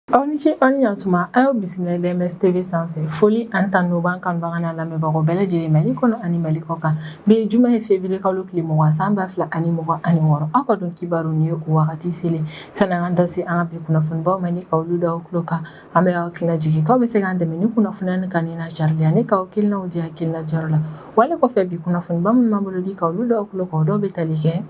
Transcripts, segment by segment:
Aw ni ce aw ni yantuma a y'aw bisimila DMS TV sanfɛ foli ani tanu b'an kanubaga n'an lamɛnbagaw bɛɛ lajɛlen Mali kɔnɔ ani Mali kɔkan bi ye juma ye février kalo tile mugan san ba fila ani mugan ani wɔɔrɔ aw ka don kibaru nin ye o wagati selen sa an ka da se an ka bi kunnafonibaw ma ni ka olu da aw tulo kan An bɛ aw hakilina jigin k'aw bɛ se k'an dɛmɛ ni kunnafoniya ni kanni n'a carili ani k'aw hakilinaw di hakilina di yɔrɔ la wale kɔfɛ bi kunnafoniba minnu b'an bolo di ka olu da aw tulo kan o dɔw bɛ tali kɛ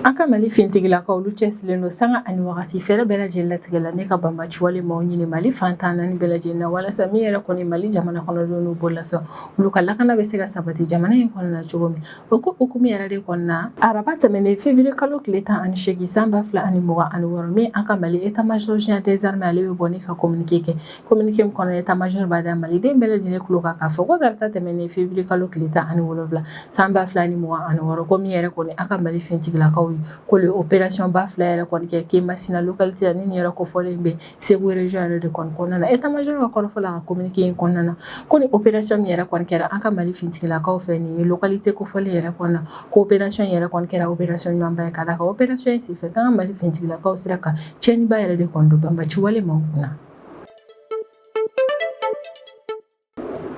an ka Mali finitigilakaw olu cɛsirilen don sanga ani wagati fɛɛrɛ bɛɛ lajɛlen latigɛ la ni ka banbaaci wale maaw ɲini Mali fan tan naani bɛɛ lajɛlen na walasa min yɛrɛ kɔni Mali jamana kɔnɔdenw n'u bololafɛnw olu ka lakana bɛ se ka sabati jamana in kɔnɔna cogo min O ko hukumu yɛrɛ de kɔnɔna na araba tɛmɛnen février kalo tile tan ani seegin san ba fila ani mugan ani wɔɔrɔ min an ka Mali état major général des armées ale bɛ bɔ ni ka communiqué kɛ communiqué min kɔnɔ état major b'a da Maliden bɛɛ lajɛlen tulo kan k'a fɔ ko tarata tɛmɛnen février kalo tile tan ani wolonwula san ba fila ni mugan ani wɔɔrɔ ko min yɛrɛ kɔni an ka Mali fintigilakaw ye k'olu ye opération ba fila yɛrɛ kɔni kɛ Kemasina localité la ni nin yɛrɛ kofɔlen bɛ Segu région yɛrɛ de kɔni kɔnɔna na état major ka kɔrɔfɔ la ka communiqué in kɔnɔna na ko ni opération min yɛrɛ kɔni kɛra an ka Mali finitigilakaw fɛ nin localité kofɔlen yɛrɛ kɔnɔna na ko opération yɛrɛ kɔni kɛra opération ɲumanba ye ka da kan opération in senfɛ k'an ka Mali finitigilakaw sera ka tiɲɛniba yɛrɛ de kɔni don banbaci wale maaw kunna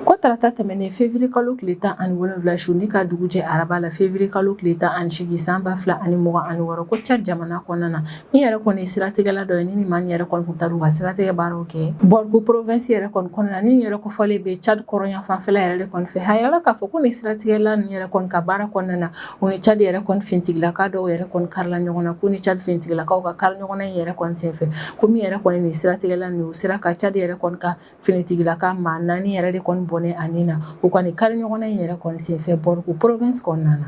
Ko tarata tɛmɛnen février kalo tile tan ani wolonwula su ni ka dugu jɛ araba la février kalo tile tan ani seegin san ba fila ani mugan ani wɔɔrɔ ko Tchad jamana kɔnɔna na min yɛrɛ kɔni ye siratigɛla dɔ ye ni maa yɛrɛ kɔni taara u ka siratigɛ baaraw kɛ Borkou province yɛrɛ kɔnɔna na ni yɛrɛ kofɔlen bɛ Tchad kɔrɔnyanfanfɛla yɛrɛ de kɔni fɛ a yirala k'a fɔ ko ni siratigɛla ni yɛrɛ kɔni ka baara kɔnɔna na u ni Tchad yɛrɛ kɔni finitigilaka dɔw yɛrɛ kɔni karila ɲɔgɔn na ko ni Tchad finitigilakaw ka kari ɲɔgɔn na in yɛrɛ kɔni senfɛ ko min yɛrɛ kɔni ni siratigɛla ninnu sera ka Tchad yɛrɛ kɔni ka finitigilaka maa naani yɛrɛ de kɔni bɔnɛ a ni na u kɔni kari ɲɔgɔnna in yɛrɛ kɔni senfɛ Borkou province kɔnɔna na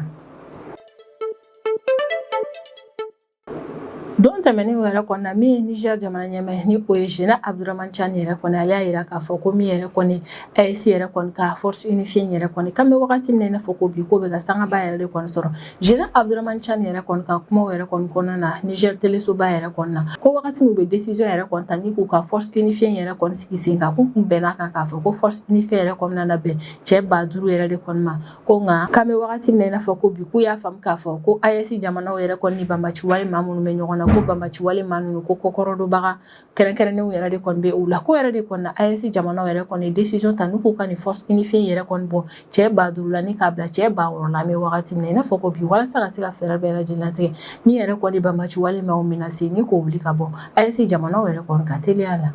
don tɛmɛnen yɛrɛ kɔnɔna min ye Niger jamana ɲɛmaa ni o ye général Abdourahamane Tchiani yɛrɛ kɔni ale y'a yira k'a fɔ ko min yɛrɛ kɔni AES yɛrɛ kɔni ka force unifiée yɛrɛ kɔni k'an bɛ wagati min na i n'a fɔ ko bi k'o bɛ ka sangaba yɛrɛ de kɔni sɔrɔ Général Abdourahamane Tchiani yɛrɛ kɔni ka kuma yɛrɛ kɔni kɔnɔna na Niger telesoba yɛrɛ kɔnɔna na ko wagati min u bɛ décision yɛrɛ kɔni ta ni k'u ka force unifiée yɛrɛ kɔni sigi sen kan k'u tun bɛnna a kan k'a fɔ ko force unifiée yɛrɛ kɔnɔna na bɛn cɛ ba duuru yɛrɛ de kɔni ma ko nka k'an bɛ wagati min na i n'a fɔ ko bi k'u y'a faamu k'a fɔ ko AES jamana yɛrɛ kɔni ni banbaci wale maa minnu bɛ ɲɔgɔn na ko banbaci wale maa ninnu ko kɔkɔrɔdonbaga kɛrɛnkɛrɛnnenw yɛrɛ de kɔni bɛ u la k'o yɛrɛ de kɔni na AES jamanaw yɛrɛ kɔni décision ta n'u k'u ka nin force unifiée yɛrɛ kɔni bɔ cɛ ba duuru la ni k'a bila cɛ ba wɔɔrɔ la an bɛ wagati min na i n'a fɔ ko bi walasa ka se ka fɛɛrɛ bɛɛ lajɛlen latigɛ min yɛrɛ kɔni banbaaci wale maaw menace ni k'o wuli ka bɔ AES jamanaw yɛrɛ kɔni ka teliya la.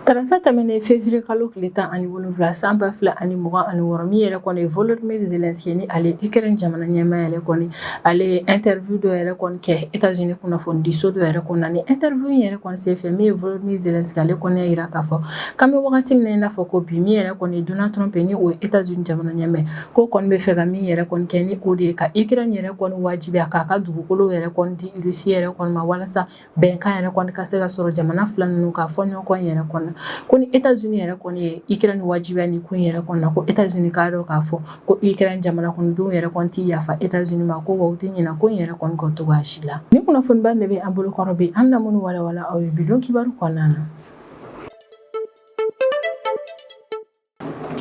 Tarata tɛmɛnen fevrier kalo tile 17 san 2026 min yɛrɛ kɔni ye Volodymyr Zelenskyy ni ale ye Ukraine jamana ɲɛmaa yɛrɛ kɔni ale ye interview dɔ yɛrɛ kɔni kɛ Etats Unis kunnafonidiso dɔ yɛrɛ kɔnɔna ni interview in yɛrɛ kɔni senfɛ min ye Volodymyr Zelenskyy ale kɔni y'a jira k'a fɔ k'an bɛ wagati min na i n'a fɔ ko bi min yɛrɛ kɔni ye Donald Trump ye ni o ye Etats Unis jamana ɲɛmaa ye k'o kɔni bɛ fɛ ka min yɛrɛ kɔni kɛ ni o de ye ka Ukraine yɛrɛ kɔni wajibiya k'a ka dugukolo yɛrɛ kɔni di Russie yɛrɛ kɔni ma walasa bɛnkan yɛrɛ kɔni ka se ka sɔrɔ jamana fila ninnu ka fɔɲɔgɔnkɔ yɛrɛ kɔnɔ ko ni Etats Unis yɛrɛ kɔni ye Ukraine wajibiya ni kun yɛrɛ kɔnɔ ko Etats Unis k'a dɔn k'a fɔ ko Ukraine jamana kɔnɔdenw yɛrɛ kɔni tɛ yafa Etats Unis ma ko wa u tɛ ɲina ko in yɛrɛ kɔni kɔ cogoya si la ni kunnafoniba de bɛ an bolokɔrɔ bi an na minnu walawala aw ye bidon kibaru kɔnɔna na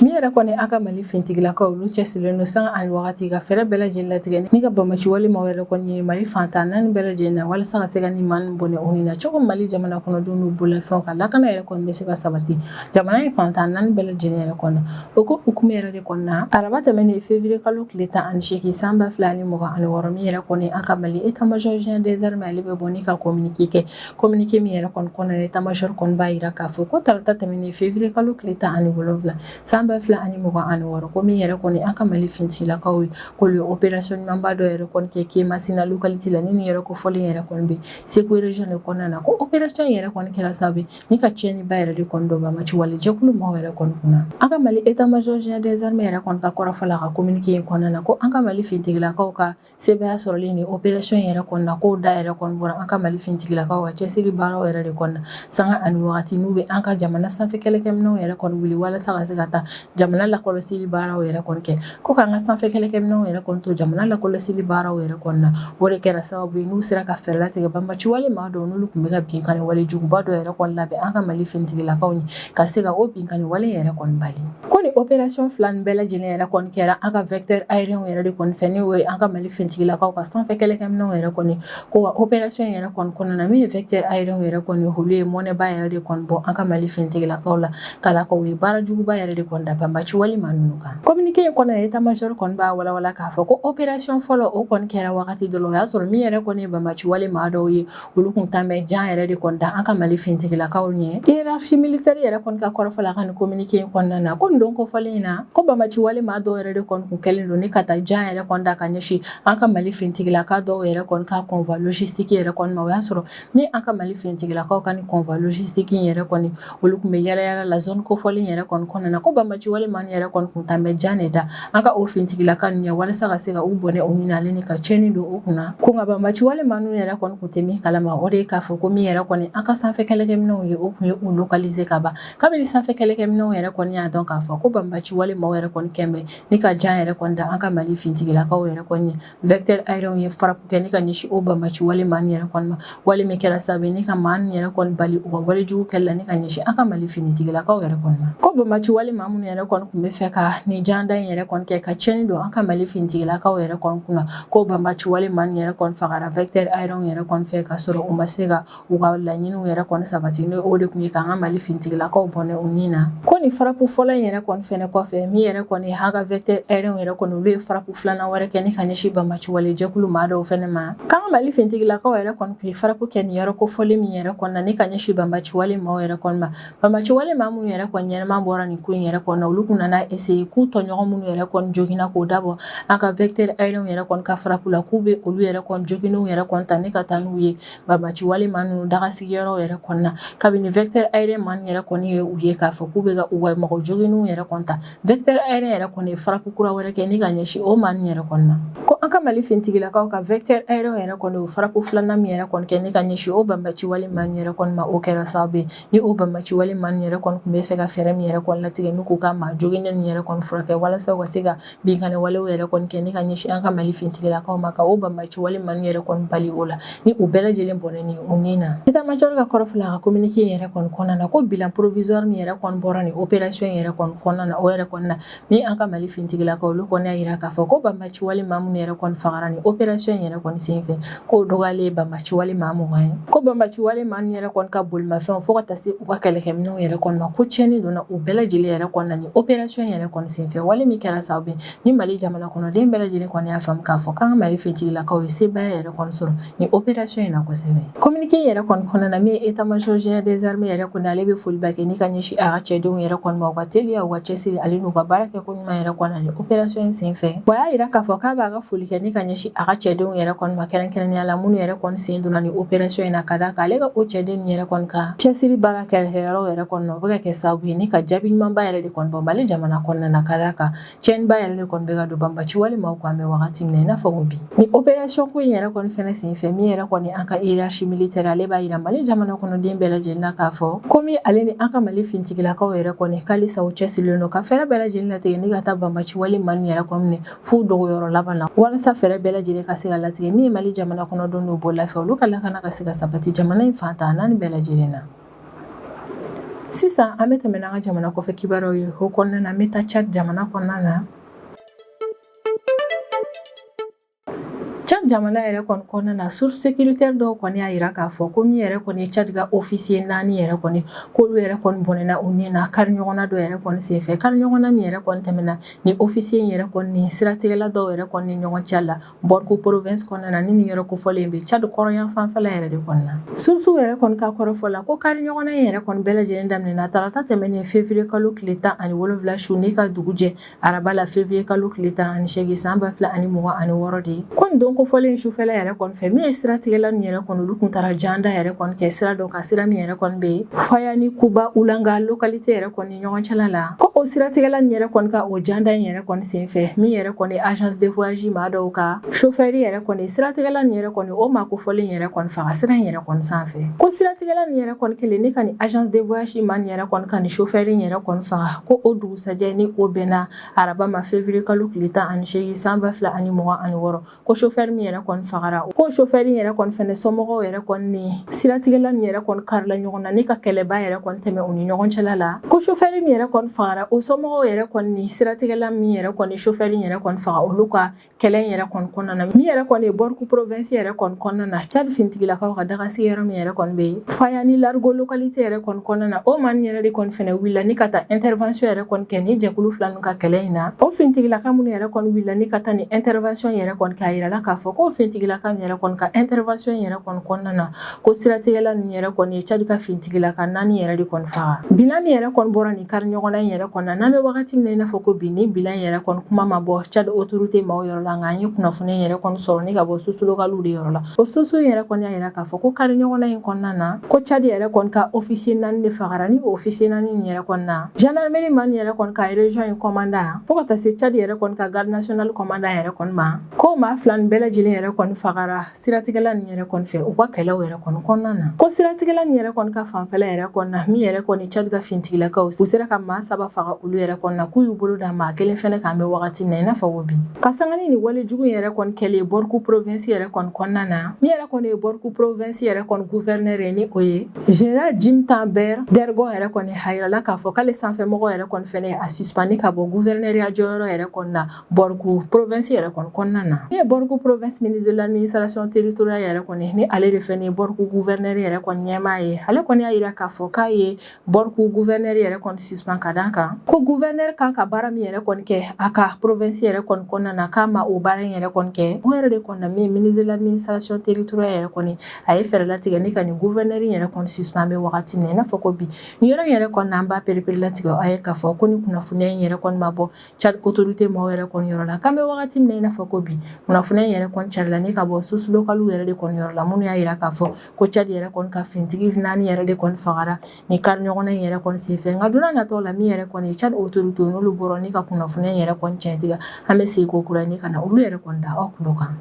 Min yɛrɛ kɔni an ka mali fintigilakaw olu cɛsirilen don sanga ani wagati ka fɛɛrɛ bɛɛ lajɛlen latigɛ ni ka banbaci wale maaw yɛrɛ kɔni ɲini mali fantan naani bɛɛ lajɛlen na walasa ka se ka nin maa ninnu bɔnɛ u ni na cogo mali jamana kɔnɔdenw n'u bolofɛnw ka lakana yɛrɛ kɔni bɛ se ka sabati jamana in fantan naani bɛɛ lajɛlen yɛrɛ kɔnɔ o ko hukumu yɛrɛ de kɔnɔna araba tɛmɛnen fevrier kalo tile tan ani seegin san ba fila ani mugan ani wɔɔrɔ min yɛrɛ kɔni an ka mali état-major général des armées ale bɛ bɔ ni ka kominike kɛ Kominike min yɛrɛ kɔni kɔnɔ état-major kɔni b'a jira k'a fɔ ko tarata tɛmɛnen fevrier kalo tile tan ani wolowula san ba fila ani mugan ani wɔɔrɔ ko min yɛrɛ kɔni an ka mali fintigilakaw ye ko olu ye opération ɲumanba dɔ yɛrɛ kɔni kɛ Kemasina localité la nin yɔrɔ kofɔlen yɛrɛ kɔni bɛ Segu région de kɔnɔna na ko opération yɛrɛ kɔni kɛra sababu ye ni ka tiɲɛniba yɛrɛ de kɔni don banbaci wale jɛkulu maaw yɛrɛ kɔni kunna an ka mali état-major général des armées yɛrɛ kɔni ka kɔrɔfɔ la ka kominike in kɔnɔna na ko an ka mali fintigilakaw ka Sebaaya sɔrɔlen nin opération in yɛrɛ kɔnɔna na k'o da yɛrɛ bɔra an ka mali fintigilakaw ka cɛsiri baaraw yɛrɛ de kɔnɔna na sanga ani waati n'u bɛ an ka jamana sanfɛ kɛlɛkɛminɛnw yɛrɛ kɔni wuli walasa ka se ka taa jamana lakɔlɔsili baaraw yɛrɛ kɔni kɛ ko k'an ka sanfɛ kɛlɛkɛminɛnw yɛrɛ kɔni to jamana lakɔlɔsili baaraw yɛrɛ kɔnɔna na o de kɛra sababu ye n'u sera ka fɛɛrɛ latigɛ banbaci wale maa dɔw n'olu tun bɛ ka binkanni wale juguba dɔ yɛrɛ kɔni labɛn an ka mali fintigilakaw ye ka se ka o binkanni wale yɛrɛ kɔni bali Ko ni opération fila nin bɛɛ lajɛlen yɛrɛ kɔni kɛra an ka vecteur aérien yɛrɛ de kɔni fɛ n'o ye an ka mali fintigilakaw ka sanfɛ kɛlɛkɛminɛnw yɛrɛ kɔni ko wa opération in yɛrɛ kɔni kɔnɔna na min ye vecteur aérien yɛrɛ kɔni olu ye mɔnɛba yɛrɛ de kɔni bɔ an ka mali fintigilakaw la k'a da a kan u ye baara juguba yɛrɛ de kɔni da banbaci wale maa ninnu kan kominike in kɔnɔ état-major kɔni b'a walawala k'a fɔ ko opération fɔlɔ o kɔni kɛra wagati dɔ la o y'a sɔrɔ min yɛrɛ kɔni ye banbaci wale maa dɔw ye olu tun tan bɛ jan yɛrɛ de kɔni da an ka mali fintigilakaw ɲɛ hiérarchie militaire yɛrɛ kɔni ka kɔrɔfɔ la ka nin kominike in kɔnɔna na ko nin don kofɔlen in na ko banbaci wale maa dɔw yɛrɛ de kɔni tun kɛlen don ni ka taa jan yɛrɛ kɔni da ka ɲɛsin an ka mali fintigilaka dɔw yɛrɛ kɔni ka convoi logistique yɛrɛ kɔni ma o y'a sɔrɔ ni an ka mali fintigilakaw ka nin convoi logistique in yɛrɛ kɔni Olu tun bɛ yaalayaala la zone kofɔlen yɛrɛ kɔnɔna na ko banbaci wale maa yɛrɛ kɔni tun bɛ jan de da an ka o finitigilaka ninnu ɲɛ walasa ka se ka u bɔnɛ u ni na ni ka cɛnni don u kunna ko nka banbaci wale maa ninnu yɛrɛ kɔni tun tɛ min kalama o de ye k'a fɔ ko min yɛrɛ kɔni an ka sanfɛ kɛlɛkɛminɛnw ye o tun ye u localiser ka ban kabini sanfɛ kɛlɛkɛminɛnw yɛrɛ kɔni y'a dɔn k'a fɔ ko banbaci wale maaw yɛrɛ kɔni kɛmɛ ni ka jan yɛrɛ kɔni da an ka mali finitigilakaw yɛrɛ kɔni ye Vecteur aérien ye frappe kɛ ni ka ɲɛsin o banbaci wale maa yɛrɛ kɔni ma wale min kɛra sababu ni ka maa yɛrɛ kɔni bali u ka wale jugu kɛli la ni ka ɲɛsin an ka mali finitigilakaw yɛrɛ kɔni ma ko banbaci wale maa minnu yɛrɛ kɔni tun bɛ fɛ ka nin janda in yɛrɛ kɔni kɛ ka cɛnni don an ka mali finitigilakaw yɛrɛ kɔni kunna ko banbaci wale maa yɛrɛ kɔni fagara vecteur aérien yɛrɛ kɔni fɛ ka sɔrɔ u ma se ka U ka laɲini yɛrɛ kɔni sabati n'o de tun ye k'an ka mali finitigilakaw bɔnɛ u ni na ko nin frappe fɔlɔ in yɛrɛ kɔni fana kɔfɛ min yɛrɛ kɔni an ka vecteur aérien yɛrɛ kɔni olu ye frappe filanan wɛrɛ kɛ ni ka ɲɛsin banbaci jɛkulu maa dɔw fana ma k'an ka mali finitigilakaw yɛrɛ kɔni tun ye frappe kɛ nin yɔrɔ kofɔlen min yɛrɛ kɔni na ni ka ɲɛsin banbaci maaw yɛrɛ kɔni ma banbaci wale maa minnu yɛrɛ kɔni ɲɛnama bɔra nin ko in yɛrɛ kɔni na olu tun nana essayer k'u tɔɲɔgɔn minnu yɛrɛ kɔni joginna k'o dabɔ an ka vecteur aérien yɛrɛ kɔni ka frappe la k'u bɛ olu yɛrɛ joginnenw yɛrɛ kɔni ta ni ka taa n'u ye Banbaci wale maa ninnu dagasigiyɔrɔ yɛrɛ kɔnɔna na kabini vecteur aérien maa yɛrɛ kɔni ye u ye k'a fɔ k'u bɛ u ka mɔgɔ joginnenw yɛrɛ kɔni ta vecteur aérien yɛrɛ kɔni ye frappe kura wɛrɛ kɛ ni ka ɲɛsin o maa yɛrɛ kɔni ma ko an ka mali finitigilakaw ka vecteur aérien yɛrɛ kɔni o frappe filanan min yɛrɛ kɔni kɛ ni ka ɲɛsin o banbaci wale maa yɛrɛ kɔni ma o kɛra sababu ye ni o banbaci wale maa yɛrɛ kɔni tun bɛ fɛ ka fɛɛrɛ min yɛrɛ kɔni latigɛ n'u ka maa joginnen yɛrɛ kɔni furakɛ walasa ka se ka binkani walew yɛrɛ kɔni kɛ ni ka ɲɛsin an ka mali finitigilakaw ma ka o banbaci wale maa ninnu yɛrɛ kɔni bali o la ni u bɛɛ lajɛlen bɔnɛ ni u ni na état major ka kɔrɔfɔla ka communiqué yɛrɛ kɔni kɔnɔna na ko bilan provisoire min yɛrɛ kɔni bɔra ni opération yɛrɛ kɔni kɔnɔna na o yɛrɛ kɔni na ni an ka mali finitigilakaw olu kɔni y'a yira k'a fɔ ko banbaci wale maa minnu yɛrɛ kɔni fagara ni opération yɛrɛ kɔni senfɛ k'o dɔgɔyalen ye banbaci wale maa mugan ye ko banbaci wale maa ninnu yɛrɛ kɔni ka bolimafɛnw fo ka taa se u ka kɛlɛkɛminɛnw yɛrɛ kɔni ma ko tiɲɛni donna u bɛɛ lajɛlen yɛrɛ kɔni na ni opération yɛrɛ kɔni senfɛ wale min kɛra sababu ye ni Mali jamana kɔnɔden bɛɛ lajɛlen kɔni y'a faamu k'a fɔ k'an ka Mali finitigilakaw ye sebaaya yɛrɛ kɔni sɔrɔ ni opération in na kosɛbɛ communiqué yɛrɛ kɔni kɔnɔna na min ye état major général des armées yɛrɛ kɔni ale bɛ foliba kɛ ni ka ɲɛsin a ka cɛdenw yɛrɛ kɔni ma u ka teliya u ka cɛsiri ale n'u ka baara kɛ ko ɲuman yɛrɛ kɔni na ni opération in senfɛ wa y'a yira k'a fɔ k'a b'a ka foli kɛ ni ka ɲɛsin a ka cɛdenw yɛrɛ kɔni ma kɛrɛnkɛrɛnnenya la minnu yɛrɛ kɔni sen donna ni opération in na ka d'a kan ale ka o cɛdenw yɛrɛ kɔni ka cɛsiri baara kɛlɛkɛyɔrɔw yɛrɛ kɔni na o bɛ ka kɛ sababu ye ni ka jaabi ɲumanba yɛrɛ de kɔni bɔ mali jamana kɔnɔna na ka d'a kan cɛnniba yɛrɛ de kɔni bɛ ka don banbaci wale maaw kan an bɛ wagati min na i n'a fɔ ko bi Ni operasɔn ko in yɛrɛ kɔni fɛnɛ senfɛ min yɛrɛ kɔni an ka hiérarchie militaire ale b'a yira mali jamana kɔnɔden bɛɛ lajɛlen na k'a fɔ komi ale ni an ka mali fintigilakaw yɛrɛ kɔni halisa u cɛsirilen don ka fɛɛrɛ bɛɛ lajɛlen latigɛ ni ka taa banbaciwale maa nin yɛrɛ kɔni minɛ f'u dogoyɔrɔ laban na walasa fɛɛrɛ bɛɛ lajɛlen ka se ka latigɛ min ye mali jamana kɔnɔdenw n'u bolofɛn olu ka lakana ka se ka sabati jamana in fan ta naani bɛɛ lajɛlen na sisan an bɛ tɛmɛ n'an ka jamana kɔfɛ kibaruyaw ye o kɔnɔna na an bɛ taa cadi jamana kɔnɔna na Cadi jamana yɛrɛ kɔni kɔnɔna na source sécuritaire dɔw kɔni y'a yira k'a fɔ ko min yɛrɛ kɔni ye cadi ka ofisiye naani yɛrɛ kɔni k'olu yɛrɛ kɔni bɔnɛna u ni na kari ɲɔgɔnna dɔ yɛrɛ kɔni senfɛ kari ɲɔgɔnna min yɛrɛ kɔni tɛmɛna ni ofisiye in yɛrɛ kɔni ni siratigɛla dɔw yɛrɛ kɔni ɲɔgɔn cɛ la borkou province kɔnɔna na ni nin yɔrɔ kofɔlen bɛ cadi kɔrɔyan fanfɛla yɛrɛ de kɔnɔna na source yɛrɛ kɔni ka kɔrɔfɔ la ko kari ɲɔgɔnna in yɛrɛ kɔni bɛɛ lajɛlen daminɛna tarata tɛmɛnen fevrier kalo tile tan ani wolonwula su ni ka dugu jɛ araba la fevrier kalo tile tan ani seegin san ba fila ani mugan ani wɔɔrɔ de ye ko nin don kofɔlen sufɛla yɛrɛ kɔni fɛ min ye siratigɛla nin yɛrɛ kɔni olu kun taara janda yɛrɛ kɔni kɛ sira dɔ kan sira min yɛrɛ kɔni bɛ faya ni kouba olanga lokalite yɛrɛ kɔni ɲɔgɔn cɛla la ko o siratigɛla nin yɛrɛ kɔni ka o janda in yɛrɛ kɔni senfɛ min yɛrɛ kɔni agence de voyage maa dɔw ka sofɛri yɛrɛ kɔni siratigɛla nin yɛrɛ kɔni o maa kofɔlen yɛrɛ kɔni faga sira in yɛrɛ kɔni sanfɛ ko siratigɛla nin yɛrɛ kɔni kɛlen ni ka nin agence de voyage maa nin yɛrɛ kɔni ka nin sofɛri yɛrɛ kɔni faga ko o dugu dugusɛjɛ ni o bɛnna araba ma fevrier kalo tile 18 san 2026 ko chauffeur min yɛrɛ kɔni fagara ko chauffeur in yɛrɛ kɔni fɛnɛ somɔgɔw yɛrɛ kɔni ni siratigɛla nin yɛrɛ kɔni karila ɲɔgɔn na ni ka kɛlɛba yɛrɛ kɔni tɛmɛ u ni ɲɔgɔn cɛla la ko chauffeur min yɛrɛ kɔni fagara o somɔgɔw yɛrɛ kɔni ni siratigɛla min yɛrɛ kɔni chauffeur in yɛrɛ kɔni faga olu ka kɛlɛ in yɛrɛ kɔni kɔnɔna na min yɛrɛ kɔni ye borkou province yɛrɛ kɔni kɔnɔna na cadi fintigilakaw ka dagasigi yɔrɔ min yɛrɛ kɔni bɛ yen faya ni largeau localité yɛrɛ kɔni kɔnɔna na o maa nin yɛrɛ de kɔni fɛnɛ wulila ni ka taa intervention yɛrɛ kɔni kɛ ni jɛkulu fila ninnu ka kɛlɛ in na o fintigilaka minnu yɛrɛ kɔni wulila ni ka taa ni intervention yɛrɛ kɔni kɛ a yirala k'a fɔ ko fintigilaka nin yɛrɛ kɔni ka intervention yɛrɛ kɔni kɔnɔna na ko siratigɛla ninnu yɛrɛ kɔni ye cadi ka fintigilaka naani yɛrɛ de kɔni faga bilan min yɛrɛ kɔni bɔra nin kari ɲɔgɔnna in yɛrɛ kɔnɔna n'an bɛ wagati min na i n'a fɔ ko bi ni bilan in yɛrɛ kɔni kuma ma bɔ cadi autorité maaw yɔrɔ la nka an ye kunnafoni in yɛrɛ kɔni sɔrɔ ni ka bɔ source lokaliw de yɔrɔ la o source in yɛrɛ kɔni y'a yira k'a fɔ ko kari ɲɔgɔnna in kɔnɔna na ko cadi yɛrɛ kɔni ka ofisiye naani de fagara ni ofisiye naani in yɛrɛ kɔni na jandarmeri maa nin yɛrɛ kɔni ka region in kɔmandan fo ka taa se cadi yɛrɛ kɔni ka garde national kɔmandan yɛrɛ kɔni ma ko maa fila nin bɛɛ lajɛlen yɛrɛ kɔni fagara siratigɛla nin yɛrɛ kɔni fɛ u ka kɛlɛw yɛrɛ kɔni kɔnɔna na ko siratigɛla nin yɛrɛ kɔni ka fanfɛla yɛrɛ kɔni na min yɛrɛ kɔni cadi ka fintigilakaw u sera ka maa saba faga olu yɛrɛ kɔni na k'u y'u bolo da maa kelen fɛnɛ kan an bɛ wagati min na i n'a fɔ ko bi ka sangani ni wale jugu yɛrɛ kɔni kɛlen borkou provinsi yɛrɛ kɔni kɔnɔna na min yɛrɛ kɔni ye borkou provinsi yɛrɛ kɔni guvɛrinɛr ye ni o ye general djimta ben dergon yɛrɛ kɔni a yirala k'a fɔ k'ale sanfɛmɔgɔ yɛrɛ kɔni fɛnɛ y'a suspandi ka bɔ guvɛrinɛriya jɔyɔrɔ yɛrɛ kɔni na Borkou province yɛrɛ kɔnɔna na min ye Borkou province ministre de l'administration territoriale yɛrɛ kɔni ni ale de fɛnɛ ye Borkou gouverneur yɛrɛ kɔni ɲɛmaa ye ale kɔni y'a jira k'a fɔ k'a ye Borkou gouverneur yɛrɛ kɔni suspend ka d'a kan ko gouverneur kan ka baara min yɛrɛ kɔni kɛ a ka province yɛrɛ kɔnɔna na k'a ma o baara in yɛrɛ kɔni kɛ o yɛrɛ de kɔni na min ministre de l'administration territoriale yɛrɛ kɔni a ye fɛɛrɛ latigɛ ni ka nin gouverneur yɛrɛ kɔni suspend bɛ wagati min na n'a fɔ ko bi ni yɔrɔ yɛrɛ kɔni na an b'a pereperelatigɛ a ye k'a fɔ ko ni kunnafoniya in yɛrɛ kɔni ma bɔ Tchad autorité maaw yɛrɛ kɔni yɔrɔ la k'an bɛ wagati min i n'a fɔ ko bi kunnafoniya in yɛrɛ kɔni carila ni ka bɔ sources locales yɛrɛ de kɔni yɔrɔ la minnu y'a jira k'a fɔ ko Tchad yɛrɛ kɔni ka fintigi naani yɛrɛ de kɔni fagara ni kariɲɔgɔnna in yɛrɛ kɔni sen fɛ nka don nataw la min yɛrɛ kɔni Tchad autorité n'olu bɔra ni ka kunnafoniya in yɛrɛ kɔni tiɲɛtigiya an bɛ segin kokura ka na olu yɛrɛ kɔni da aw tulo kan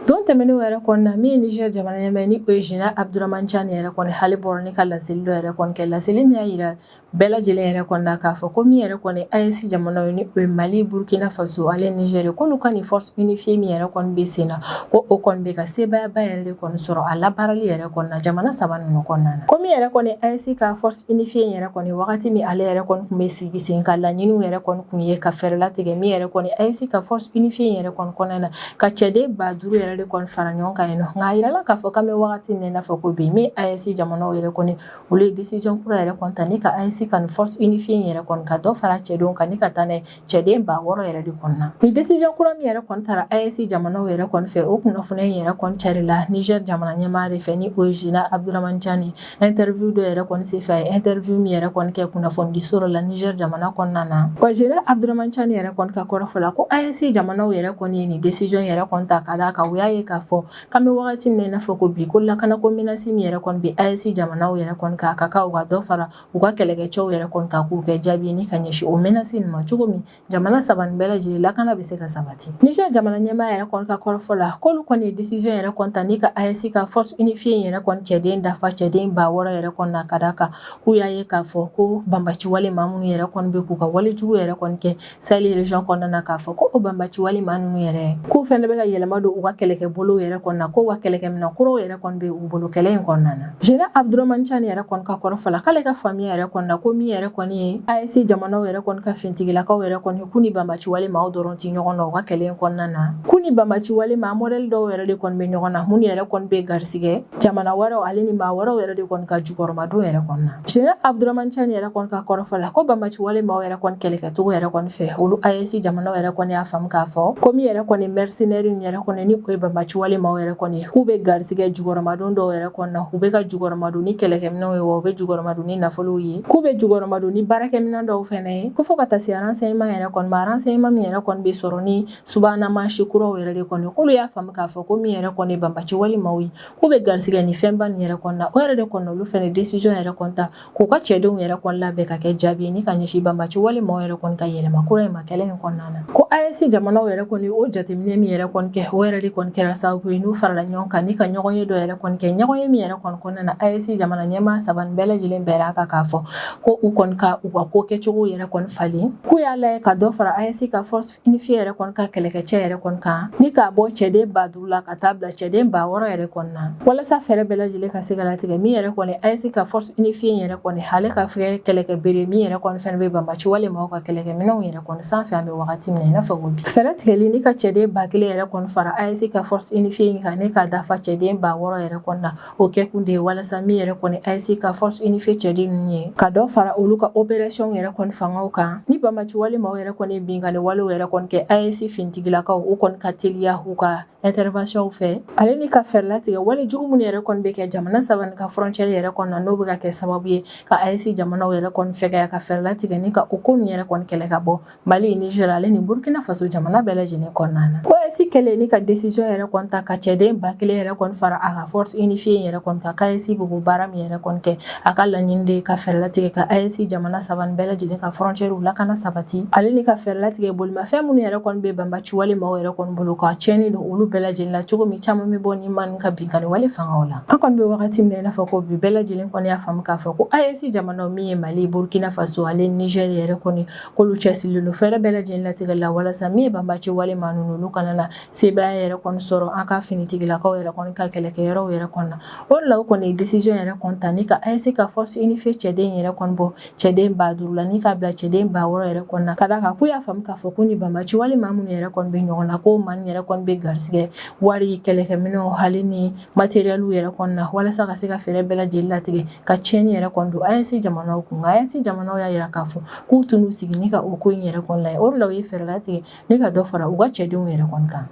Don tɛmɛnen yɛrɛ kɔni na min ye Niger jamana ɲɛmaa ni o ye Général Abdourahmane Tiani yɛrɛ kɔni ale bɔra ni ka laseli dɔ yɛrɛ kɔni kɛ laseli min y'a jira Bɛɛ lajɛlen yɛrɛ kɔni na k'a fɔ ko min yɛrɛ kɔni AES jamana ni o ye Mali Burkina Faso ale Niger k'olu ka nin force unifiée min yɛrɛ kɔni bɛ sen na ko o kɔni bɛ ka sebayaba yɛrɛ de kɔni sɔrɔ a labaarali yɛrɛ kɔni na jamana saba ninnu kɔnɔna na ko min yɛrɛ kɔni AES ka force unifiée yɛrɛ kɔni wagati min ale yɛrɛ kɔni tun bɛ sigi sen kan laɲini yɛrɛ kɔni tun ye ka fɛɛrɛ latigɛ min yɛrɛ kɔni AES ka force unifiée yɛrɛ kɔni kɔnɔna na ka cɛden ba duuru yɛrɛ de kɔni fara ɲɔgɔn kan yen nɔ nka a jirala k'a fɔ k'an bɛ wagati min n'a fɔ ko bi min AES jamana yɛrɛ kɔni Olu ye décision kura yɛrɛ kɔni ta ni ka AES ka nin force unifiée yɛrɛ kɔni ka dɔ fara cɛdenw kan ni ka taa n'a ye cɛden ba wɔɔrɔ yɛrɛ de kɔni na ni décision kura min yɛrɛ kɔni tara AES jamanaw yɛrɛ kɔni fɛ o kunnafoniya in yɛrɛ kɔni carila Niger jamana ɲɛmaa de fɛ ni o ye Général Abdourahmane Tiani interview dɔ yɛrɛ kɔni senfɛ a ye interview min yɛrɛ kɔni kɛ kunnafonidiso dɔ la Niger jamana kɔnɔna na wa Général Abdourahmane Tiani yɛrɛ kɔni ka kɔrɔfɔ la ko AES jamanaw yɛrɛ kɔni ye nin décision yɛrɛ kɔni ta ka d'a kan u y'a ye k'a fɔ An bɛ wagati min n'a fɔ ko bi ko lakanako menace min yɛrɛ kɔni bɛ AES jamanaw yɛrɛ kɔni kan ka kan u ka dɔ fara u ka kɛlɛkɛcɛw yɛrɛ kɔni kan k'u kɛ jaabi ni ka ɲɛsin o menace nin ma cogo min jamana saba nin bɛɛ lajɛlen lakana bɛ se ka sabati Niger jamana ɲɛmaa yɛrɛ kɔni ka kɔrɔfɔ la k'olu kɔni ye décision yɛrɛ kɔni ta ni ka AES ka force unifiée in yɛrɛ kɔni cɛden dafa cɛden ba wɔɔrɔ yɛrɛ kɔni na ka d'a kan k'u y'a ye k'a fɔ ko banbaci walemaa minnu yɛrɛ kɔni bɛ k'u ka walejugu yɛrɛ kɔni kɛ Sahel région kɔnɔna na k'a fɔ ko o banbaci walemaa ninnu yɛrɛ k'u fɛnɛ bɛ ka yɛlɛma don u ka kɛlɛkɛbolow yɛrɛ kɔni na ko wa kɛlɛkɛminɛn kuraw yɛrɛ kɔni bɛ u bolo kɛlɛ in kɔnɔna na Général Abdourahmane Tiani yɛrɛ kɔni ka kɔrɔfɔ la k'ale ka faamuya yɛrɛ kɔni na ko min yɛrɛ kɔni ye AES jamanaw yɛrɛ kɔni ka fintigilakaw yɛrɛ kɔni k'u ni banbaci walemaaw dɔrɔn tɛ ɲɔgɔn na u ka kɛlɛ in kɔnɔna na k'u ni banbaci walema modèle dɔw yɛrɛ de kɔni bɛ ɲɔgɔn na minnu yɛrɛ kɔni bɛ garisigɛ jamana wɛrɛw ale ni maa wɛrɛw yɛrɛ de kɔni ka jukɔrɔmadon yɛrɛ kɔni na Général Abdourahamane Tiani yɛrɛ kɔni ka kɔrɔfɔ la ko banbaci wale maaw yɛrɛ kɔni kɛlɛkɛcogo yɛrɛ kɔni fɛ olu AES jamanaw yɛrɛ kɔni y'a faamu k'a fɔ ko min yɛrɛ kɔni mercenaire yɛrɛ kɔni ni o ye banbaci wale maaw yɛrɛ kɔni k'u bɛ garisigɛ jukɔrɔmadon dɔw yɛrɛ kɔni na u bɛ ka jukɔrɔmadon ni kɛlɛkɛminɛw ye wa u bɛ jukɔrɔmadon ni nafolow ye k'u bɛ jukɔrɔmadon ni baarakɛminɛ dɔw fana ye ko fɔ ka taa se renseignement yɛrɛ kɔni ma renseignement min yɛrɛ kɔni bɛ sɔrɔ ni subahana mansin kuraw yɛrɛ de kɔni k'olu y'a faamu k'a fɔ ko min yɛrɛ kɔni ye banbaci wale maaw ye k'u bɛ garisigɛ ni fɛnba nin yɛrɛ kɔni na o yɛrɛ de kɔni olu fana décision yɛrɛ kɔni ta k'u ka cɛdenw yɛrɛ kɔni labɛn ka kɛ jaabi ye ni ka ɲɛsin banbaci wale maaw yɛrɛ kɔni ka yɛlɛma kura in ma kɛlɛ in kɔnɔna na ko AES jamanaw yɛrɛ kɔni o jateminɛ min yɛrɛ kɔni kɛ o yɛrɛ de kɔni kɛra sababu ye n'u farala ɲɔgɔn kan ni ka ɲɔgɔnye dɔ yɛrɛ kɔni kɛ ɲɔgɔnye min yɛrɛ kɔni kɔnɔna na AES jamana ɲɛmaa saba nin bɛɛ lajɛlen bɛnna a kan k'a fɔ ko u kɔni ka u ka ko kɛcogo yɛrɛ kɔni falen k'u y'a lajɛ ka dɔ fara AES ka force unifiée yɛrɛ kɔni ka kɛlɛkɛcɛ yɛrɛ kɔni kan ni k'a bɔ cɛden ba duuru la ka taa bila cɛden ba wɔɔrɔ yɛrɛ kɔni na walasa fɛɛrɛ bɛɛ lajɛlen ka se ka latigɛ min yɛrɛ kɔni AES ka force unifiée yɛrɛ kɔni ale ka fɛ kɛlɛkɛbere min yɛrɛ kɔni fɛnɛ bɛ banbaci wale maaw ka kɛlɛkɛminɛnw yɛrɛ kɔni sanfɛ an bɛ wagati min na i n'a fɔ ko bi fɛɛrɛ tigɛli ni ka cɛden ba kelen yɛrɛ kɔni fara AES ka force unifiée kan ni k'a dafa cɛden ba wɔɔrɔ yɛrɛ kɔni na O kɛ kun de ye walasa min yɛrɛ kɔni AES ka force unifiée cɛden ninnu ye ka dɔ fara olu ka opération yɛrɛ kɔni fangaw kan ni banbaci wale maaw yɛrɛ kɔni binkanni walew yɛrɛ kɔni kɛ AES finitigilakaw u kɔni ka teliya u ka interventionw fɛ ale ni ka fɛɛrɛ latigɛ wale jugu minnu yɛrɛ kɔni bɛ kɛ jamana saba nin ka frontière yɛrɛ kɔni na n'o bɛ ka kɛ sababu ye ka AES jamanaw yɛrɛ kɔni fɛgɛya ka fɛɛrɛ latigɛ ni ka o ko ninnu yɛrɛ kɔni kɛlɛ ka bɔ Mali Niger ale ni Burkina Faso jamana bɛɛ lajɛlen kɔnɔna na ko AES kɛlen ni ka décision yɛrɛ kɔni ta ka cɛden ba kelen yɛrɛ kɔni fara a ka force unifiée in yɛrɛ kɔni kan k'AES b'o baara min yɛrɛ kɔni kɛ a ka laɲini de ka fɛɛrɛ latigɛ ka AES jamana saba bɛɛ lajɛlen ka frontièrew lakana sabati ale ni ka fɛɛrɛ latigɛ bolomafɛn minnu yɛrɛ kɔni bɛ banbaciwale maaw yɛrɛ kɔni bolo ka tiɲɛni don olu bɛɛ lajɛlen la cogo min caman bɛ bɔ nin maaw ka binkanni wale fanga la an kɔni bɛ wagati min na i n'a fɔ ko bi bɛɛ lajɛlen kɔni y'a faamu k'a fɔ ko AES jamana min ye Mali Burkina Faso ale Niger yɛrɛ kɔni k'olu cɛsirilen don fɛɛrɛ bɛɛ lajɛlen latigɛ la walasa min ye banbaaci wale maa ninnu olu kana na sebaaya yɛrɛ kɔni sɔrɔ an ka finitigilakaw yɛrɛ kɔni ka kɛlɛkɛyɔrɔw yɛrɛ kɔni na o de la o kɔni ye décision yɛrɛ kɔni ta ni ka AES ka force unifiée cɛden yɛrɛ kɔni bɔ cɛden ba duuru la ni k'a bila cɛden ba wɔɔrɔ yɛrɛ kɔni na ka d'a kan k'u y'a faamu k'a fɔ ko ni banbaaci wale maa minnu yɛrɛ kɔni bɛ ɲɔgɔn na ko maa nin yɛrɛ kɔni bɛ garisigɛ wari kɛlɛkɛminɛnw ale ni matériel yɛrɛ kɔni na walasa ka se ka fɛɛrɛ bɛɛ lajɛlen latigɛ ka tiɲɛni yɛrɛ kɔni don AES jamanaw kun nka AES jamanaw y'a jira k'a fɔ k'u tɛn'u sigi ni ka o ko in yɛrɛ kɔni lajɛ o de la u ye fɛɛrɛ latigɛ ni ka dɔ fara u ka cɛdenw yɛrɛ kɔni kan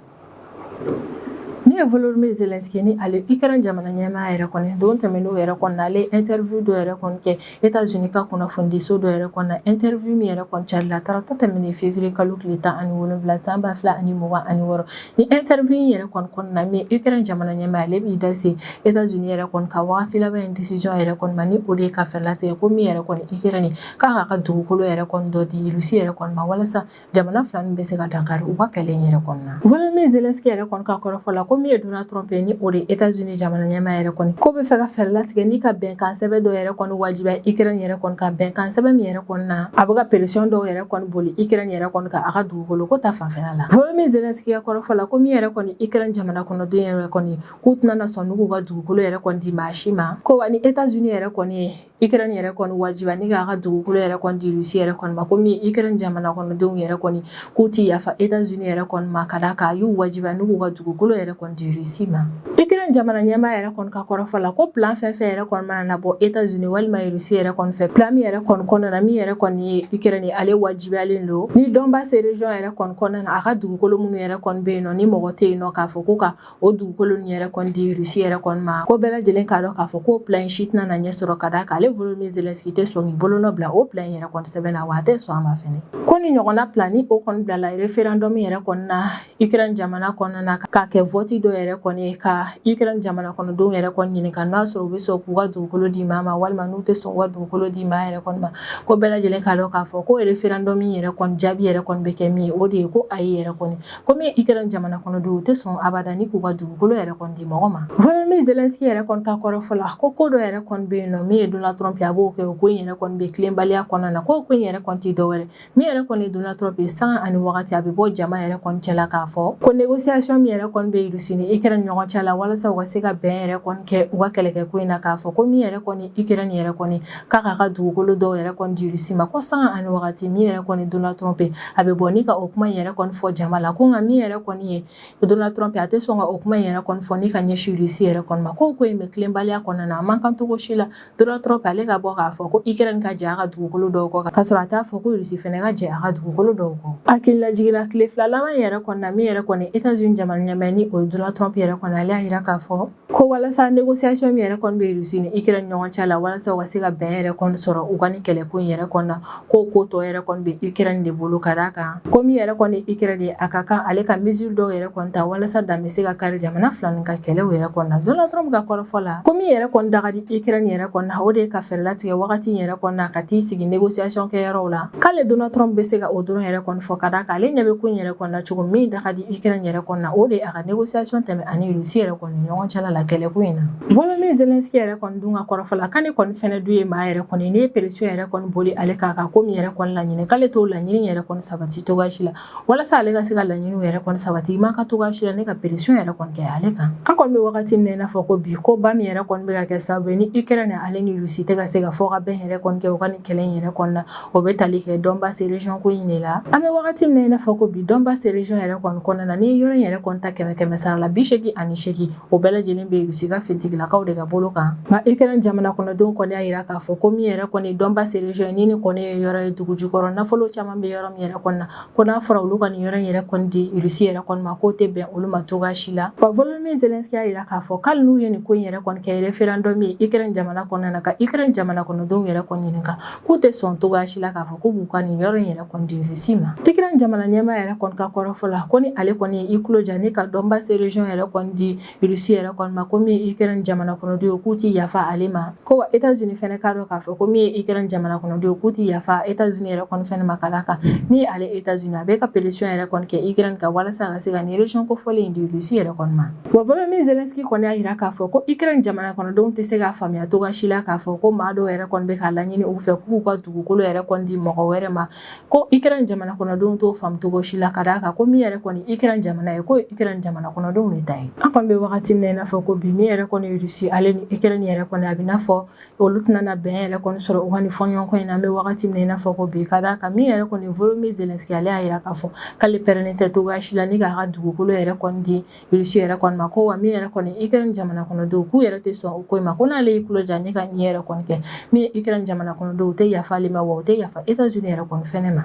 min ye Volodymyr Zelenskyy ni ale Ukraine jamana ɲɛmaa yɛrɛ kɔni don tɛmɛnenw yɛrɛ kɔni na ale ye interview dɔ yɛrɛ kɔni kɛ États-Unis ka kunnafonidiso dɔ yɛrɛ kɔni na interview min yɛrɛ kɔni carila tarata tɛmɛnen février kalo tile tan ani wolonwula san ba fila ani mugan ani wɔɔrɔ ni interview in yɛrɛ kɔni kɔnɔna na min Ukraine jamana ɲɛmaa ale b'i da se États-Unis yɛrɛ kɔni ka waati laban in décision yɛrɛ kɔni ma ni o de ye ka fɛɛrɛ latigɛ ko min yɛrɛ kɔni Ukraine k'a k'a ka dugukolo yɛrɛ kɔni dɔ di Russie yɛrɛ kɔni ma walasa jamana fila nin bɛ se ka dankari u ka kɛlɛ in yɛrɛ kɔni na volodymyr zelensky yɛrɛ kɔni ka kɔrɔfɔ la ko min ye donald trump ye ni o de ye etats unis jamana ɲɛmaa yɛrɛ kɔni ko bɛ fɛ ka fɛɛrɛ latigɛ ni ka bɛnkan sɛbɛn dɔ yɛrɛ kɔni wajibiya ukraine yɛrɛ kɔni kan bɛnkan sɛbɛn min yɛrɛ kɔni na a bɛ ka pression dɔw yɛrɛ kɔni boli ukraine yɛrɛ kɔni kan a ka dugukolo ko ta fanfɛla la volodymyr zelensky ka kɔrɔfɔ la ko min yɛrɛ kɔni ukraine jamana kɔnɔden yɛrɛ kɔni k'u tɛna na sɔn ni k'u ka dugukolo yɛrɛ kɔni di maa si ma ko wa ni etats unis yɛrɛ kɔni ye Ukraine yɛrɛ kɔni wajibiya ni k'a ka dugukolo yɛrɛ kɔni di Russie yɛrɛ kɔni ma ko min ye Ukraine jamana kɔnɔdenw yɛrɛ kɔni k'u tɛ yafa États-Unis yɛrɛ kɔni ma ka d'a kan a y'u wajibiya ni k'u ka dugukolo yɛrɛ kɔni di Russie ma Ukraine jamana ɲɛmaa yɛrɛ kɔni ka kɔrɔfɔ la ko plan fɛn fɛn yɛrɛ kɔni mana na bɔ États-Unis walima Russie yɛrɛ kɔni fɛ plan min yɛrɛ kɔni kɔnɔna na min yɛrɛ kɔni ye Ukraine ale wajibiyalen don ni Donbass région yɛrɛ kɔni kɔnɔna na a ka dugukolo minnu yɛrɛ kɔni bɛ yen nɔ ni mɔgɔ tɛ yen nɔ k'a fɔ ko ka o dugukolo ninnu yɛrɛ kɔni di russie yɛrɛ kɔni ma ko bɛɛ lajɛlen k'a dɔn k'a fɔ ko plan in si tɛna na ɲɛ sɔrɔ ka d'a kan ale volodymyr zelensky tɛ sɔn k'i bolonɔ bila o plan in yɛrɛ kɔni sɛbɛn na wa a tɛ sɔn a ma fɛnɛ ko ni ɲɔgɔnna plan ni o kɔni bilala referendum yɛrɛ kɔni na ukraine jamana kɔnɔna na k'a kɛ vote dɔ yɛrɛ kɔni ye ka ukraine jamana kɔnɔdenw yɛrɛ kɔni ɲininka n'a sɔrɔ u bɛ sɔn k'u ka dugukolo di maa ma walima n'u tɛ sɔn k'u ka dugukolo di maa yɛrɛ kɔni ma ko bɛɛ lajɛlen k'a dɔn k'a fɔ ko referendum yɛrɛ kɔni jaabi yɛrɛ kɔni bɛ kɛ min ye o de ye ko ayi yɛrɛ kɔni ko min ye ukraine jamana kɔnɔdenw u tɛ sɔn abada ni k'u ka dugukolo yɛrɛ kɔni di mɔgɔ ma volodymyr zelensky yɛrɛ kɔni ta kɔrɔfɔ la ko ko dɔ yɛrɛ kɔni bɛ yen nɔ min ye donald trump ye a b'o kɛ o ko in yɛrɛ kɔni bɛ tilenbaliya kɔnɔna na ko ko in yɛrɛ kɔni tɛ dɔwɛrɛ min yɛrɛ kɔni ye donald trump ye sanga ani wagati a bɛ bɔ jama yɛrɛ kɔni cɛla k'a fɔ ko négociation min yɛrɛ kɔni bɛ russie ni ukraine ni ɲɔgɔn cɛ la walasa u ka se ka bɛn yɛrɛ kɔni kɛ u ka kɛlɛkɛ ko in na k'a fɔ ko min yɛrɛ kɔni ukraine yɛrɛ kɔni k'a k'a ka dugukolo dɔw yɛrɛ kɔni di Russie ma ko sanga ani wagati min yɛrɛ kɔni Donald Trump a bɛ bɔ ni ka o kuma in yɛrɛ kɔni fɔ jama la ko nka min yɛrɛ kɔni ye Donald Trump a tɛ sɔn ka o kuma in yɛrɛ kɔni fɔ ni ka ɲɛsin Russie yɛrɛ kɔni ma ko ko in bɛ tilenbaliya kɔnɔna na a man kan cogo si la Donald Trump ale ka bɔ k'a fɔ ko Ukraine ka jɛ a ka dugukolo dɔw kɔ ka sɔrɔ a t'a fɔ ko Russie fana ka jɛ a ka dugukolo dɔw kɔ hakililajigin na tile fila laban yɛrɛ kɔni na min yɛrɛ kɔni États-Unis jamana ɲɛmaa ni o Donald Trump yɛrɛ kɔni ale y'a jira k'a fɔ ko walasa négociation min yɛrɛ kɔni bɛ Russie ni Ukraine ɲɔgɔn cɛ la walasa u ka se ka bɛn yɛrɛ kɔni sɔrɔ u ka nin kɛlɛko in yɛrɛ kɔni na k'o ko tɔ yɛrɛ kɔni bɛ Ukraine de bolo ka d'a kan ko min yɛrɛ kɔni ye Ukraine ye a ka kan ale ka mesure dɔw yɛrɛ kɔni ta walasa dan bɛ se ka kari jamana fila nin ka kɛlɛw yɛrɛ kɔni na Donald Trump ka kɔrɔfɔ la ko min yɛrɛ kɔni da ka di Ukraine yɛrɛ kɔni na o de ye ka fɛɛrɛ latigɛ wagati in yɛrɛ kɔni na ka t'i sigi négociation kɛ yɔrɔw la k'ale Donald Trump bɛ se ka o dɔrɔn yɛrɛ kɔni fɔ ka d'a kan ale ɲɛ bɛ ko in yɛrɛ kɔni na cogo min da ka di Ukraine yɛrɛ kɔni na o de ye a ka Négociation tɛmɛ ani Russie yɛrɛ kɔni ɲɔgɔn cɛla la kɛlɛ ko in na Volodymyr Zelenskyy yɛrɛ kɔni dun ka kɔrɔfɔ la k'ale kɔni fɛnɛ dun ye maa yɛrɛ kɔni n'i ye pression yɛrɛ kɔni boli ale k'a kan ko min yɛrɛ kɔni laɲini k'ale t'o laɲini yɛrɛ kɔni sabati togo si la walasa ale ka se ka laɲini yɛrɛ kɔni sabati i man kan togo si la ni ka pression yɛrɛ kɔni kɛ ale kan an kɔni bɛ wagati min na i n'a fɔ ko bi ko ba min yɛrɛ kɔni bɛ ka kɛ sababu ye ni Ukraine ale ni Russie tɛ ka se ka fɔ ka bɛn yɛrɛ kɔni kɛ u ka nin kɛlɛ in yɛrɛ kɔnɔna na o bɛ tali kɛ Donbass region ko in de la an bɛ wagati min na i n'a fɔ ko bi Donbass region yɛrɛ kɔni kɔnɔna na nin yɔrɔ in yɛrɛ kɔni ta kɛmɛ kɛmɛ sara la bisegin ani segin o bɛɛ lajɛlen bɛ Russie ka finitigilakaw de ka bolo kan nka Ukraine jamana kɔnɔdenw kɔni y'a yira k'a fɔ ko min yɛrɛ kɔni Donbass region nin kɔni ye yɔrɔ ye dugu jukɔrɔ nafolo caman bɛ yɔrɔ min yɛrɛ kɔnɔna na ko n'a fɔra olu ka nin yɔrɔ in yɛrɛ kɔni di Russie yɛrɛ kɔni ma k'o tɛ bɛn olu ma toga si la wa Volodymyr Zelenskyy y'a yira k'a fɔ k'ali n'u ye nin ko in yɛrɛ kɔni kɛ référendum ye Ukraine jamana kɔnɔna na ka Ukraine jamana kɔnɔdenw yɛrɛ kɔni ɲininka k'u tɛ sɔn togoya si la k'a fɔ k'u b'u ka nin yɔrɔ in yɛrɛ kɔni di Russie ma. Ukraine jamana ɲɛmaa yɛrɛ kɔni ka kɔrɔfɔ la ko ni ale kɔni ye i tulo ja ni ka Donbass region yɛrɛ kɔni di Russie yɛrɛ kɔni ma ko min ye Ukraine jamana kɔnɔdenw ye k'u tɛ yafa ale ma ko wa Etats-Unis fɛnɛ k'a dɔn k'a fɔ ko min ye Ukraine jamana kɔnɔdenw k'u tɛ yafa Etats-Unis yɛrɛ kɔni fɛnɛ ma ka d'a kan min ye ale Etats-Unis a bɛ ka pression yɛrɛ kɔni kɛ Ukraine kan walasa a ka se ka nin region kofɔlen in di Russie yɛrɛ kɔni ma. Wa Volodymyr Zelenskyy kɔni y'a yira k'a fɔ ko Ukraine jamana kɔnɔdenw tɛ se k'a faamuya togoya si la k'a fɔ ko maa dɔw yɛrɛ kɔni bɛ k'a laɲini u fɛ k'u ka dugukolo yɛrɛ kɔni di mɔgɔ wɛrɛ ma, ko Ukraine jamana kɔnɔdenw t'o faamu togo si la, ka d'a kan ko min yɛrɛ kɔni ye Ukraine jamana ye, k'o ye Ukraine jamana kɔnɔdenw de ta ye. An kɔni bɛ wagati min na i n'a fɔ ko bi, min yɛrɛ kɔni ye Russie ale ni Ukraine yɛrɛ kɔni a bɛ i n'a fɔ Olu tɛna bɛn yɛrɛ kɔni sɔrɔ u ka nin fɔɲɔgɔnkɔ in na an bɛ wagati min na i n'a fɔ ko bi ka d'a kan min yɛrɛ kɔni Volodymyr Zelenskyy ale y'a yira k'a fɔ k'ale pɛrɛnnen tɛ togo si la ni k'a ka dugukolo yɛrɛ kɔni di Russie yɛrɛ kɔni ma ko wa min yɛrɛ kɔni Ukraine jamana kɔnɔdenw k'u yɛrɛ tɛ sɔn o ko in ma ko n'ale y'i tulo ja ni ka nin yɛrɛ kɔni kɛ min ye Ukraine jamana kɔnɔdenw u tɛ yafa ale ma wa u tɛ yafa Etats-Unis yɛrɛ kɔni fɛnɛ ma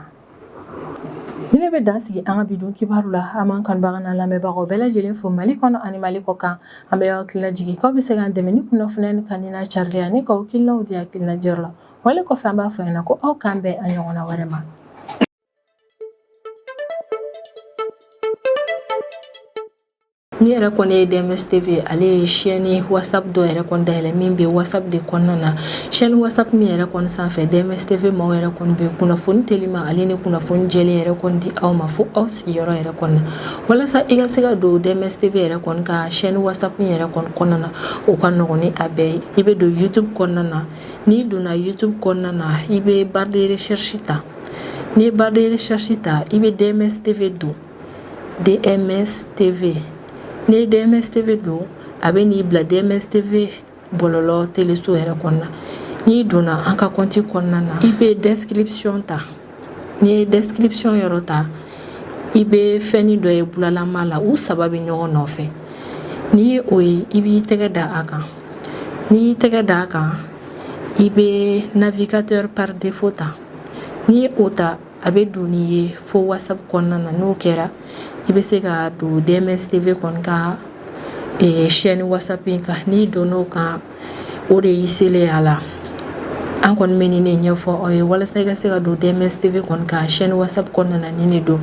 Nin de bɛ dan sigi an ka bi don kibaru la an b'an kanubagaw n'an lamɛnbagaw bɛɛ lajɛlen fo Mali kɔnɔ ani Mali kɔ kan an bɛ aw hakili lajigin k'aw bɛ se k'an dɛmɛ ni kunnafoni in kanuli n'a carili ye ani k'aw hakilinaw di hakilina diyɔrɔ la wale kɔfɛ an b'a fɔ ɲɛna ko aw k'an bɛn a ɲɔgɔnna wɛrɛ ma Ni yɛrɛ kɔni ye DMS TV ale ye chaîne whatsapp dɔ yɛrɛ kɔni dayɛlɛ min bɛ whatsapp de kɔnɔna na chaîne whatsapp min yɛrɛ kɔni sanfɛ DMS TV maaw yɛrɛ kɔni bɛ kunnafoni telima ale ni kunnafoni jɛlen yɛrɛ kɔni di aw ma fo aw sigiyɔrɔ yɛrɛ kɔnɔ walasa i ka se ka don DMS TV yɛrɛ kɔni ka chaîne whatsapp min yɛrɛ kɔni kɔnɔna na o ka nɔgɔn ni a bɛɛ ye i bɛ don YouTube kɔnɔna na n'i donna YouTube kɔnɔna na i bɛ barre de recherche ta n'i ye barre de recherche ta i bɛ DMS TV don DMS TV n'i ye DMS TV don a bɛ n'i bila DMS TV bɔlɔlɔ teleso yɛrɛ kɔnɔna n'i donna an ka kɔnti kɔnɔna na i bɛ description ta n'i ye description yɔrɔ ta i bɛ fɛnni dɔ ye bulalama la u saba bɛ ɲɔgɔn nɔfɛ n'i ye o ye i b'i tɛgɛ da a kan n'i y'i tɛgɛ da a kan i bɛ navigateur par défaut ta n'i ye o ta A bɛ don n'i ye fo WhatsApp kɔnɔna na n'o kɛra i bɛ se ka don DMS TV kɔni ka chaîne WhatsApp in kan n'i donna o kan o de y'i selen a la an kɔni bɛ nin de ɲɛfɔ aw ye walasa i ka se ka don DMS TV kɔni ka chaîne WhatsApp kɔnɔna na nin de don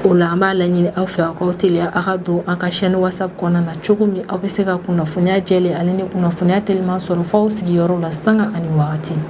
o la an b'a laɲini aw fɛ aw k'aw teliya aw ka don an ka chaîne WhatsApp kɔnɔna na cogo min aw bɛ se ka kunnafoniya jɛlen ani ni kunnafoniya teliman sɔrɔ f'aw sigiyɔrɔ la sanga ani waati